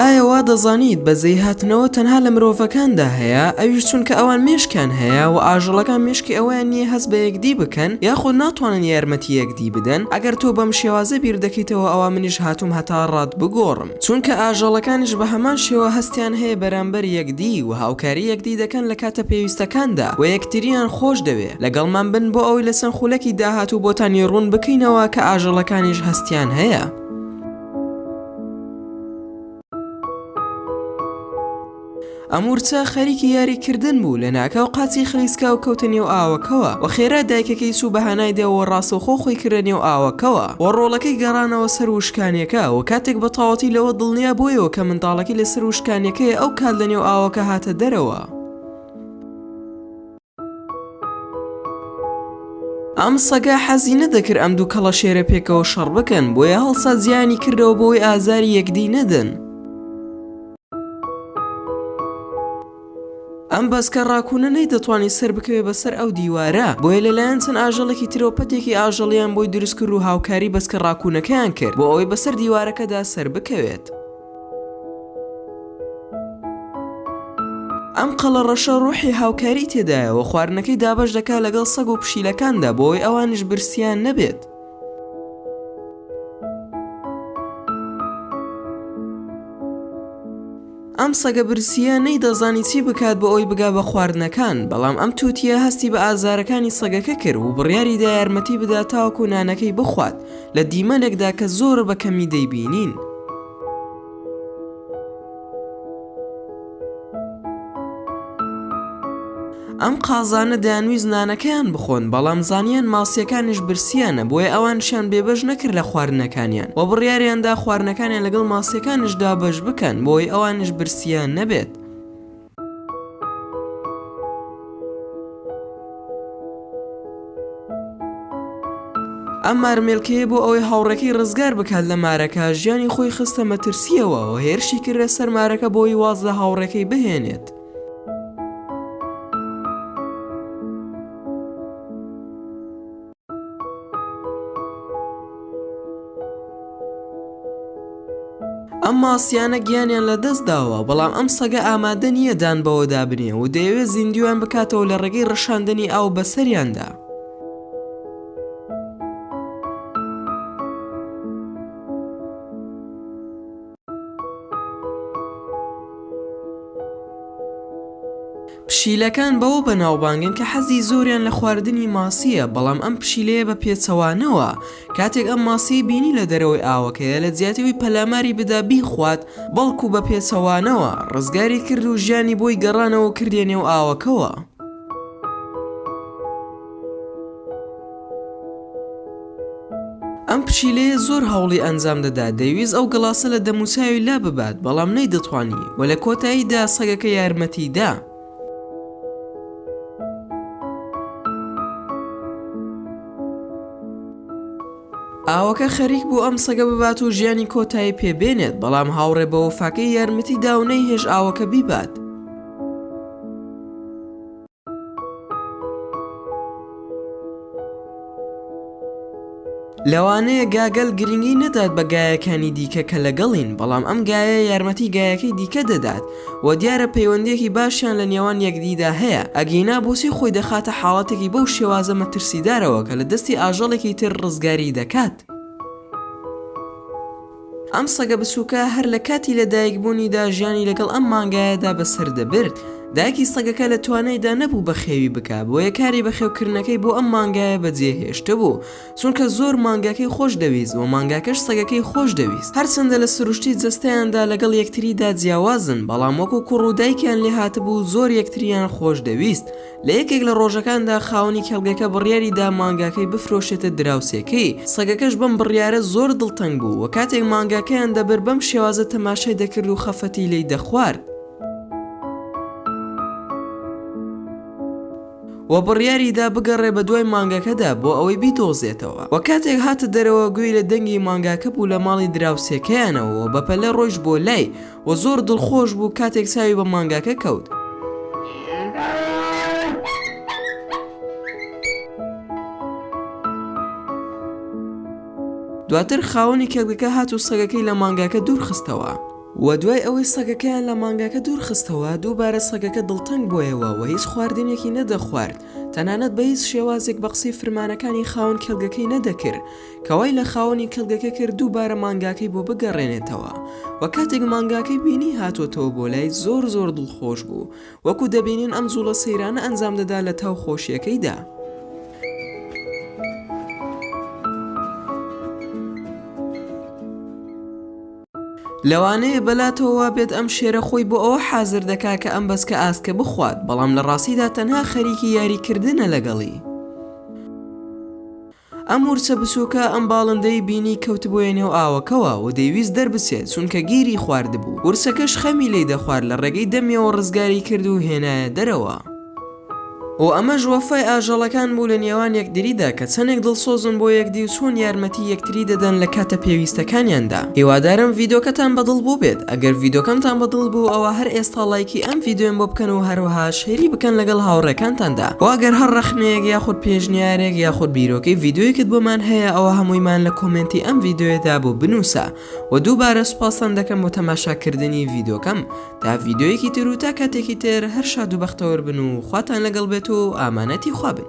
ئایا وا دەزانیت بەزەی هاتنەوە تەنها لە مرۆڤەکاندا هەیە ئەویش چونکە ئەوان مشکیان هەیە و ئاژەڵەکان مشکی ئەویان نییە هەست بە یەکدی بکەن یاخود ناتوانن یارمەتی یەک دی بدەن ئەگەر تۆ بەم شێوازە بیر دەکەیتەوە ئەوا منیش هاتووم هەتا ڕات بگۆڕم چونکە ئاژەڵەکانیش بە هەمان شێوە هەستیان هەیە بەرامبەر یەکدی و هاوکاری یەکدی دەکەن لە کاتە پێویستەکاندا و یەکتریان خۆش دەوێ لەگەڵمان بن بۆ ئەوەی لە چەند خولەکی داهاتوو بۆتانی ڕوون بکەینەوە کە ئاژەڵەکانیش هەستیان هەیە ئەمورچە خەریکی یاری کردن بوو لە ناکاو قاچی خلیسکا و کەوتە نێو ئاوەکەوە و خێرا دایکەکەی چوو بە هانای دەوە ڕاستەوخۆ خۆی کردە نێو ئاوەکەوە و ڕۆڵەکەی گەڕانەوە سەر وشکانیەکە و کاتێک بە تاوەتی لەوە دڵنیا بۆیەوە کە منداڵەکەی لەسەر وشکانیەکەی ئەو کات لە نێو ئاوەکە هاتە دەرەوە ئەم سەگە حەزی نەدەکرد ئەم دوو کەڵەشێرە پێکەوە شەڕ بکەن بۆیە هەڵسا جیانی کردەوە بۆی ئازاری یەکدی نەدەن ئەم بەسکە ڕاکوونە نەی دەتوانانی سەر بکەوێ بەسەر ئەو دیوارە بۆیە لەلایەن چەند ئاژەڵێکی ترەوە پەتێکی ئاژەڵیان بۆی دروستکرد و هاوکاری بەسکە ڕاکوونەکەیان کرد بۆ ئەوەی بەسەر دیوارەکەدا سەر بکەوێت. ئەم قەڵەڕەشە ڕۆحی هاوکاری تێدایە و خواردنەکەی دابەش دەکات لەگەڵ سەگ و پشیلەکاندا بۆ ئەوەی ئەوانیش برسیان نەبێت. ئەم سەگە برسییە نەیدەزانی چی بکات بۆ ئەوی بگا بە خواردنەکان بەڵام ئەم تووتە هەستی بە ئازارەکانی سەگەکە کرد و بڕیاریدا یارمەتی بدات تاوەکو نانەکەی بخوات لە دیمەنێکدا کە زۆر بە کەمی دەیبینین. ئەم قازانە دەیانویست نانەکەیان بخۆن، بەڵام زانیان ماسییەکانیش برسییانە، بۆیە ئەوانشیان بێبەش نەکرد لە خواردنەکانیان و بڕیاریان دا خواردنەکانیان لەگەڵ ماسییەکانیشدا بەش بکەن بۆی ئەوانیش برسییان نەبێت. ئەم مارمێلکەیە بۆ ئەوەی هاوڕێکەی ڕزگار بکات لە مارەکە ژیانی خۆی خستە مەترسیەوە و هێرشی کردە سەر مارەکە بۆی واز لە هاوڕێکەی بهێنێت ئەم ماسیانە گیانیان لە دەست داوە بەڵام ئەم سەگە ئامادە نییە دان بەوەدا بنێ و دەیەوێت زیندویان بکاتەوە لە ڕێگەی ڕەشاندنی ئاو بەسەریاندا پشیلەکان بەوە بەناوبانگن کە حەزی زۆریان لە خواردنی ماسییە بەڵام ئەم پشیلەیە بە پێچەوانەوە کاتێک ئەم ماسیی بینی لە دەرەوەی ئاوەکەیە لە جیاتی ئەوی پەلاماری بدا بیخوات بەڵکو بە پێچەوانەوە ڕزگاری کرد و ژیانی بۆی گەڕانەوە کردیە نێو ئاوەکەوە. ئەم پشیلەیە زۆر هەوڵی ئەنجام دەدا دەیویست ئەو گڵاسە لە دەموچاوی لا ببات بەڵام نەی دەتوانی و لە کۆتاییدا سەگەکە یارمەتی دا. ئاوەکە خەریک بوو ئەم سەگە ببات و ژیانی کۆتایی پێبێنێت بەڵام هاوڕێ بە وەفاکەی یارمەتی داونەی هێش ئاوەکە بیبات. لەوانەیە گاگەل گرنگی نەدات بە گایەکانی دیکە کە لەگەڵین بەڵام ئەم گایە یارمەتی گایەکەی دیکە دەدات و دیارە پەیوەندیەکی باشیان لە نێوان یەکدیدا هەیە ئەگینا بۆچی خۆی دەخاتە حاڵەتێکی بەو شێوازە مەترسیدارەوە کە لە دەستی ئاژەڵێکی تر ڕزگاری دەکات. ئەم سەگە بچووکە هەر لە کاتی لەدایکبوونیدا ژیانی لەگەڵ ئەم مانگایەدا بەسەر دەبرد، دایکی سەگەکە لە توانایدا نەبوو بەخێوی بکا، بۆیە کاری بەخێوکردنەکەی بۆ ئەم مانگایە بەجێهێشتبوو، چونکە زۆر مانگاکەی خۆش دەویست و مانگاکەش سەگەکەی خۆش دەویست، هەرچەندە لە سروشتی جەستەیاندا لەگەڵ یەکتریدا جیاوازن، بەڵام وەکو کوڕ و دایکیان لێهاتبوو زۆر یەکتریان خۆش دەویست، لە یەکێک لە ڕۆژەکاندا خاوەنی کێڵگەکە بڕیاری دا مانگاکەی بفرۆشێتە دراوسێکەی، سەگەکەش بەم بڕیارە زۆر دڵتەنگ بوو و کاتێک مانگاکەیان دەبرد بەم شێوازە تەماشای دەکرد و خەفەتی لێی دەخوارد. وە بڕیاری دا بگەڕێ بە دوای مانگاکەدا بۆ ئەوەی بیدۆزێتەوە وە کاتێک هاتە دەرەوە گوێی لە دەنگی مانگاکە بوو لە ماڵی دراوسێکەیانەوە وە بەپەلە ڕۆیشت بۆ لای، و زۆر دڵخۆش بوو کاتێک چاوی بە مانگاکە کەوت. دواتر خاوەنی کێڵگەکە هات و سەگەکەی لە مانگاکە دوور خستەوە و دوای ئەوەی سەگەکەیان لە مانگاکە دوور خستەوە دووبارە سەگەکە دڵتەنگ بۆیەوە و هیچ خواردنێکی نەدەخوارد تەنانەت بە هیچ شێوازێک بە قسەی فرمانەکانی خاوەن کێڵگەکەی نەدەکرد کە وای لە خاوەنی کێڵگەکە کرد دووبارە مانگاکەی بۆ بگەڕێنێتەوە و کاتێک مانگاکەی بینی هاتۆتەوە بۆ لای زۆر زۆر دڵخۆش بوو وەکو دەبینین ئەم جوڵە سەیرانە ئەنجام دەدا لە تاو خۆشیەکەیدا. لەوانەیە بەلاتەوە وابێت ئەم شێرە خۆی بۆ ئەوە حازر دەکا کە ئەم بەچکە ئاسکە بخوات بەڵام لە ڕاستیدا تەنها خەریکی یاری کردنە لەگەڵی. ئەم ورچە بچووکە ئەم باڵندەی بینی کەوتبوویە نێو ئاوەکەوە و دەیویست دەربچێت چونکە گیری خواردبوو، ورچەکەش خەمی لی دەخوارد لە ڕێگەی دەمیەوە ڕزگاری کرد و هێنایە دەرەوە و ئەمەش وەفای ئاژەڵەکان بوو لە نێوان یەکدریدا کە چەنێک دڵسۆزن بۆ یەکدی و چۆن یارمەتی یەکتری دەدەن لە کاتە پێویستەکانیاندا هیوادارم ڤیدۆکەتان بەدڵ بووبێت. ئەگەر ڤیدۆکەمتان بە دڵ بوو ئەوا هەر ئێستا ڵایکی ئەم ڤیدۆیەم بۆ بکەن و هەروەها شەیری بکەن لەگەڵ هاوڕێکانتاندا وە ئەگەر هەر ڕەخنەیەک یاخود پێشنیارێک یاخود بیرۆکەی ڤیدۆیەکت بۆمان هەیە ئەوا هەموویمان لە کۆمێنتی ئەم ڤیدۆیەدا بۆ بنووسە وە دووبارە سوپاستان دەکەم بۆ تەماشا کردنی ڤیدۆکەم تا ڤیدۆیەکی تر و تا کاتێکی تر هەر شاد و بەختەوەر بن و خواتان لەگەڵ بێت و ئامانەتی خوا بن.